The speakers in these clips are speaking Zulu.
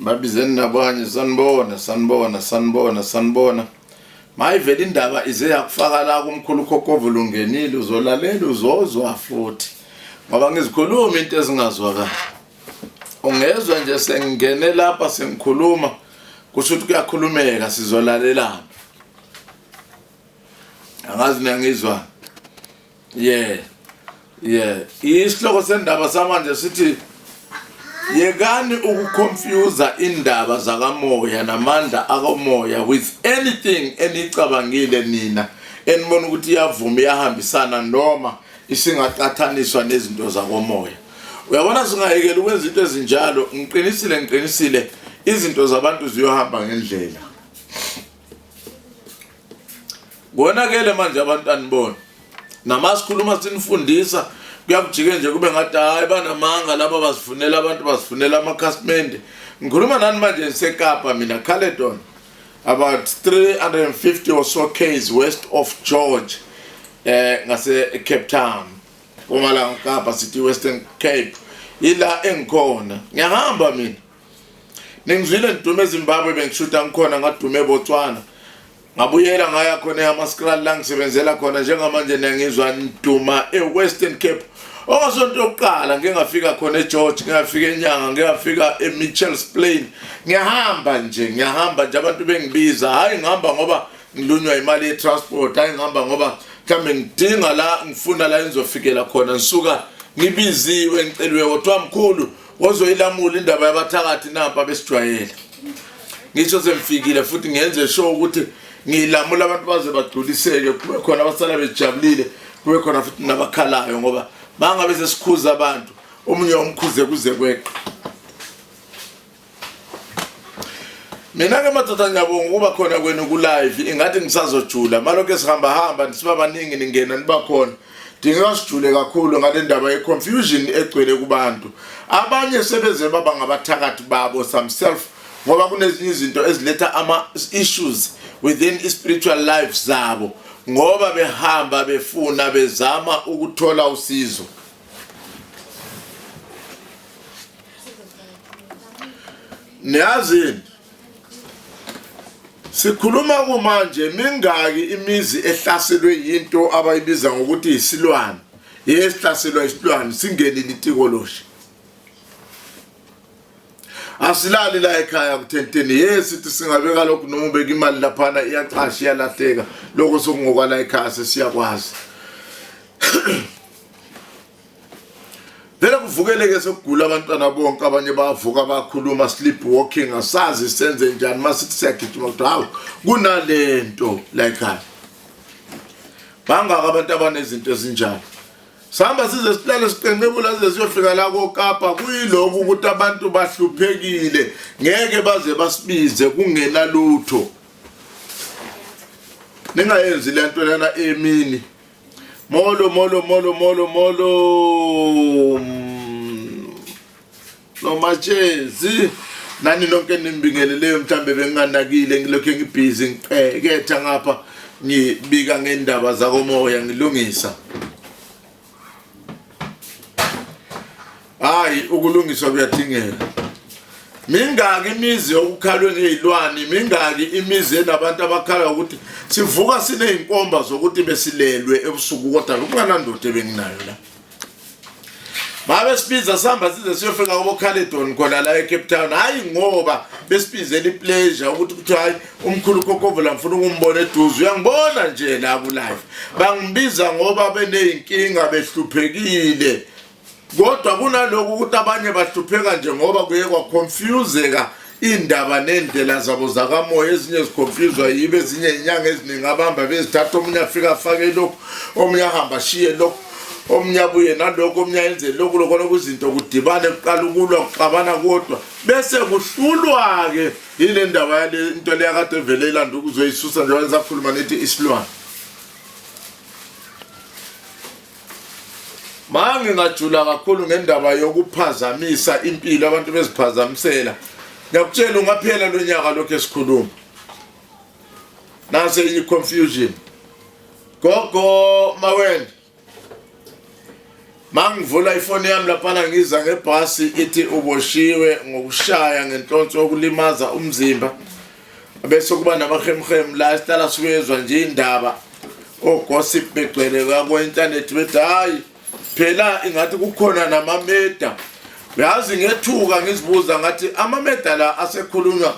babizeni nabanye sanibona sanibona sanibona sanibona mayivele indaba ize yakufaka la kumkhulu khokhovu lungenile uzolalela uzozwa futhi ngoba ngizikhuluma into ezingazwakali ungezwa nje sengingene lapha sengikhuluma kusho ukuthi kuyakhulumeka sizolalelana angazi niyangizwani yeah yeah isihloko sendaba samanje sithi yekani ukuconfusa indaba zakamoya namandla akomoya with anything enicabangile nina enibona ukuthi iyavuma iyahambisana noma isingaqathaniswa nezinto zakomoya uyabona singayekela ukwenza into ezinjalo ngiqinisile ngiqinisile izinto zabantu ziyohamba ngendlela Konakele manje abantwana bona. Namasikhuluma sinifundisa kuyakujike nje kube ngathi hayi banamanga laba bazifunela abantu bazifunela amakhasimende. Ngikhuluma nani manje ngiseKapa mina Caledon. About 350 or so k's west of George eh ngase Cape Town. Uma la Kapa sithi Western Cape. Ila engikhona. Ngiyahamba mina. Ningizwile ngidume eZimbabwe bengishuta ngikhona ngadume eBotswana. Ngabuyela ngaya khona eHamaskral la ngisebenzela khona njengamanje niyangizwa ngiduma eWestern Cape. Ongasonto yokuqala ngike ngafika khona eGeorge, ngike ngafika eNyanga, ngike ngafika eMitchells Plain. Ngiyahamba nje, ngiyahamba nje abantu bengibiza. Hayi ngihamba ngoba ngilunywa imali yetransport, hayi ngihamba ngoba mhlambe ngidinga la ngifuna la engizofikela khona ngisuka ngibiziwe ngicelwe kodwa mkhulu Wozoyilamula indaba yabathakathi nampa besijwayele. Ngisho sengifikile futhi ngenze sure ukuthi ngilamula abantu baze bagculiseke kube khona abasala bejabulile kube khona futhi nabakhalayo ngoba bangabe sesikhuza abantu omunye umkhuze kuze kweqa mina ke madoda ngiyabonga ukuba khona kwenu ku-live ingathi ngisazojula malokhu esihambahamba nisiba baningi ningena niba khona Dingeka sijule kakhulu ngale ndaba ye-confusion egcwele kubantu. Abanye sebeze baba ngabathakathi babo some self ngoba kunezinye izinto eziletha ama-issues within i-spiritual life zabo ngoba behamba befuna bezama ukuthola usizo. Niyazini? Sikhuluma kumanje mingaki imizi ehlaselwe yinto abayibiza ngokuthi isilwane yesihlaselwa isilwane singenile itikoloshe asilali la ekhaya kuthenteni yesithi singabeka lokhu noma ubeka imali laphana iyacasha iyalahleka lokho sokungokwala ekhaya sesiyakwazi vele kuvukeleke sokugula abantwana bonke abanye bavuka bakhuluma sleep walking asazi senze njani masithi siyagijima kodwa hawu kunalento la ekhaya bangaka abantu abanezinto ezinjalo sihamba size silale siqenqebula size siyofika la kokapa kuyilokhu ukuthi abantu bahluphekile ngeke baze basibize kungenalutho ningayenzi le nto lena emini Molo molo molo molo molo nomatshezi nani nonke nimbingeleleyo mhlawumbe benginganakile ngilokhu ngibhizi ngiqeketha ngapha ngibika ngendaba zakomoya ngilungisa Hayi ukulungiswa kuyadingeka. Mingaki imizi yokukhalwe ngezilwane, mingaki imizi enabantu abakhala ukuthi sivuka sineyinkomba zokuthi besilelwe ebusuku kodwa kunganandoda ebenginayo la. Babe sibiza sihamba size siyofika kubo Khaledon khona la eCape Town. Hayi ngoba besibizela ipleasure ukuthi kuthi hayi umkhulu Kokovela ngifuna ukumbona eduze. Uyangibona nje la ku live. Bangibiza ngoba beneyinkinga behluphekile. kodwa kunalokho ukuthi abanye bahlupheka nje ngoba kuye kwaconfuseka iy'ndaba ney'ndlela zabo zakamoya ezinye ziconfuswa yibo ezinye inyanga eziningi abamba bezithatha omunye afike afake lokhu omunye ahamba ashiye lokhu omunye abuye nalokhu omunye ayenze lokhu lokona kuzinto kudibane kuqala ukulwa kuxabana kodwa bese kuhlulwa-ke yile ndaba yale nto leyakade evele ilanda ukuzoyisusa njengoba nisakhuluma nithi isilwane Mangi ngajula kakhulu ngendaba yokuphazamisa impilo abantu beziphazamisela. Ngiyakutshela ungaphela lo nyaka lokho esikhuluma. Nase i confusion. Gogo mawena. Mangivula ifoni yami laphana ngiza ngebhasi ithi uboshiwe ngokushaya ngenhlonso okulimaza umzimba. bese kuba namahemhem la sihlala sikwezwa nje indaba ogossip begcwele kakwe-intanethi bethi hhayi phela ingathi kukhona namameda yazi ngethuka ngizibuza ngathi amameda la asekhulunywa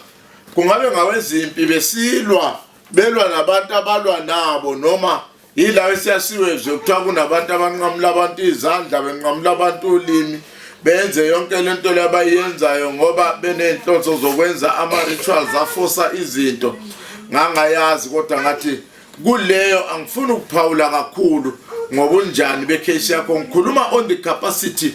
kungabe ngawezimpi besilwa belwa nabantu abalwa nabo noma Yila esiyasiwe nje kuthiwa kunabantu abanqamula abantu izandla benqamula abantu ulimi benze yonke lento labayenzayo ngoba benenhlonzo zokwenza ama rituals afosa izinto ngangayazi kodwa ngathi kuleyo angifuni ukuphawula kakhulu ngobunjani becase yakho ngikhuluma on the capacity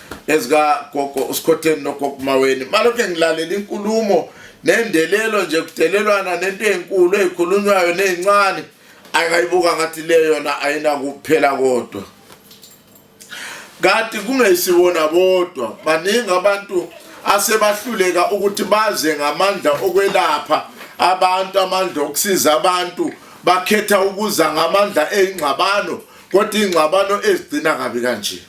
ezikagogo usikhotheni nogogo maweni malokhe ngilalela inkulumo nendelelo nje kudelelwana nento enkulu ezikhulunywayo nezincane akayibuka ngathi le yona ayinakuphela kodwa kanti kungesiwona bodwa baningi abantu asebahluleka ukuthi baze ngamandla okwelapha abantu amandla okusiza abantu bakhetha ukuza ngamandla eyingxabano kodwa ingxabano ezigcina kabi kanje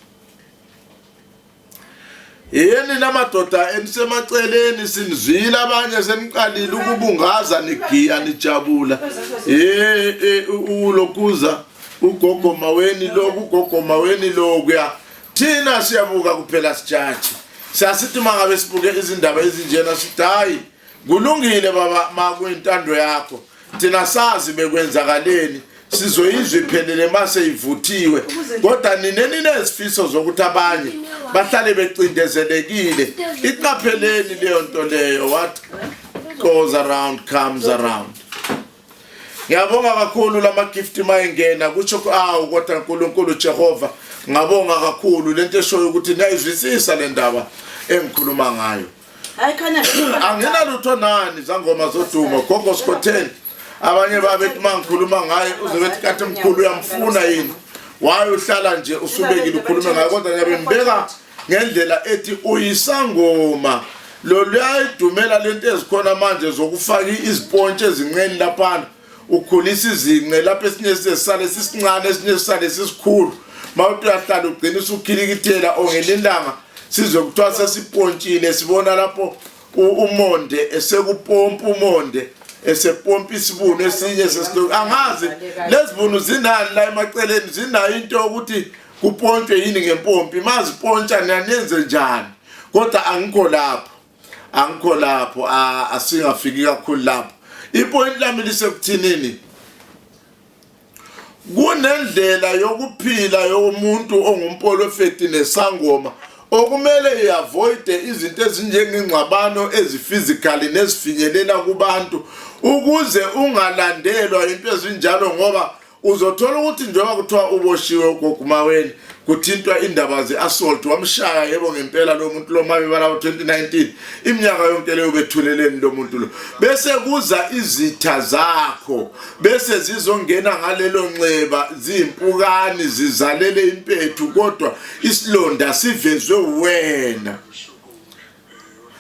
yini namadoda enisemaceleni sinizwile abanye seniqalile ukubungaza nigiya nijabula eh, eh ulokuza ugogo maweni lo ugogo maweni lo kuya thina siyabuka kuphela sijaji siyasithi mangabe sibuke izindaba ezinjena sithi hayi Kulungile baba makuyintando yakho thina sazi bekwenzakaleni sizoyizwa iphelele mase ivuthiwe kodwa nine ninezifiso zokuthi abanye bahlale becindezelekile iqapheleni leyo nto leyo what goes around comes around ngiyabonga kakhulu lama gift mayengena kusho awu kodwa uNkulunkulu Jehova ngabonga kakhulu lento eshoyo ukuthi niyayizwisisa le ndaba engikhuluma ngayo Hayi khanya anginalutho nani zangoma zodumo gogo sikhotheni abanye babethi mangikhuluma ngaye uzobethi kathi mkhulu uyamfuna yini waye uhlala nje usubekile ukhulume ngayo kodwa ngiyabe ngibeka ngendlela ethi uyisangoma loluyayidumela lento ezikhona manje zokufaka izipontshi ezinqeni laphana ukhulisa izinqe lapho esinye sisale sisincane esinye sisale sisikhulu mawuthi uyahlala ugcina usukhilikithela ongelilanga sizwe kuthiwa sesipontshile sibona lapho umonde esekupompa umonde esepompa isibunu esinye sesiloku angazi lezibunu zinani la emaceleni zinayo into yokuthi kupontshwe yini ngempompi mazipontsha niyanenze njani kodwa angikho lapho angikho lapho asingafiki kakhulu lapho ipoint lami lisekuthinini kunendlela yokuphila yomuntu ongumpolofeti nesangoma okumele iavoide izinto ezinjengengxabano ezifizikali nezifinyelela kubantu ukuze ungalandelwa into ezinjalo ngoba uzothola ukuthi njengoba kuthiwa uboshiwe ugogumaweni kuthintwa indaba ze-assault wamshaya yebo ngempela lo muntu lomabibala wo-2019 iminyaka yonke leyo bethuleleni lo muntu lo bese kuza izitha zakho bese zizongena ngalelo nxeba ziyimpukani zizalele impethu kodwa isilonda sivezwe wena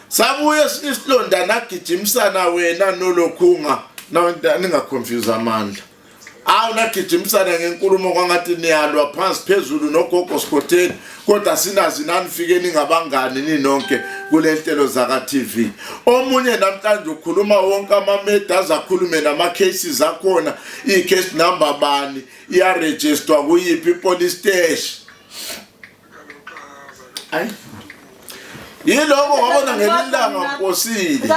sabuye isilonda nagijimisana wena nolokhunga ningaconfuse amandla awu nagijimisana ngenkulumo kwangathi niyalwa phansi phezulu nogogo sikhotheni kodwa sinazi nanifike ningabangani ninonke kule nhlelo zaka-tv omunye namhlanje ukhuluma wonke amameda aze akhulume nama-cases akhona ii-case number bani iyarejistwa kuyiphi ipolice steshi Ay. Yiloko wabona ngelilanga posile.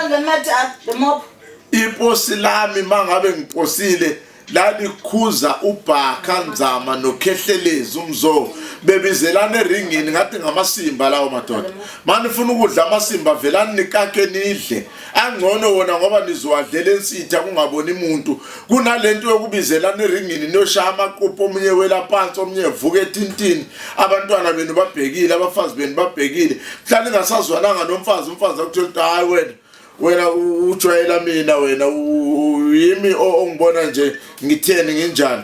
Iposi lami mangabe ngiposile lalikhuza ubhakha nzama nokhehlelezi umzo bebizelana eringini ngathi ngamasimba lawo madoda manifuna ukudla amasimba velani nikake nidle angcono wona ngoba nizowadlela ensitha kungaboni muntu kunalento yokubizelana eringini niyoshaya amaqupho omunye wela phansi omunye evuka ethintini abantwana benu babhekile abafazi benu babhekile mhlawumbe ningasazwananga nomfazi umfazi akuthola ukuthi hayi wena wena ujwayela mina wena yimi ongibona nje ngitheni nginjani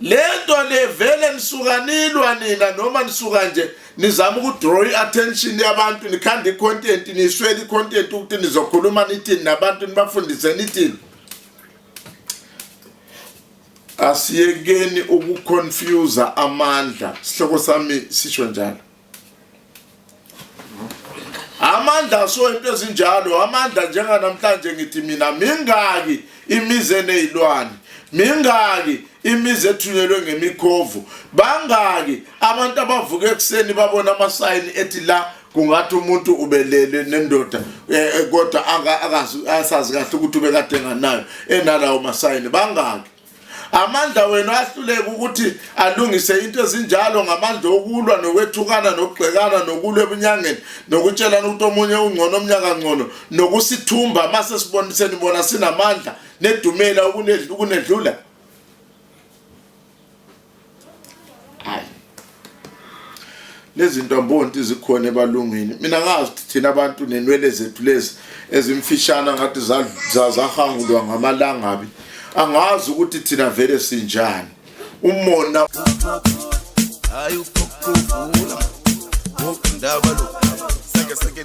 lento nivele nisuka nilwa nina noma nisuka nje nizama ukudraw i-attention yabantu nikhanda i-content niswele i-content ukuthi nizokhuluma nithini nabantu nibafundise nithini asiyekeni ukuconfusa amandla sihloko sami sisho njalo amandla so into ezinjalo amandla njenganamhlanje ngithi mina mingaki imizi eneyilwane mingaki imizi ethunyelwe ngemikhovu bangaki abantu abavuka ekuseni babona amasayini ethi la kungathi umuntu ubelele nendoda eh, eh, kodwa akazi asazi kahle ukuthi ubekade nganayo enalawo masayini bangaki amandla wenu ahluleka ukuthi alungise into ezinjalo ngamandla okulwa nokwethukana nokugxekana nokulwa ebunyangeni nokutshelana ukuthi omunye ungcono omnyaka ngcono nokusithumba uma sesiboniseni bona sinamandla nedumela ukunedlula hayi lezi zinto ambonti zikhona ebalungwini mina ngazi ukuthi thina abantu nenwele zethu lezi ezimfishana ngathi zahangulwa ngamalangabi angazi ukuthi thina vele sinjani umona hayi uphokuvula ngokundaba lo seke seke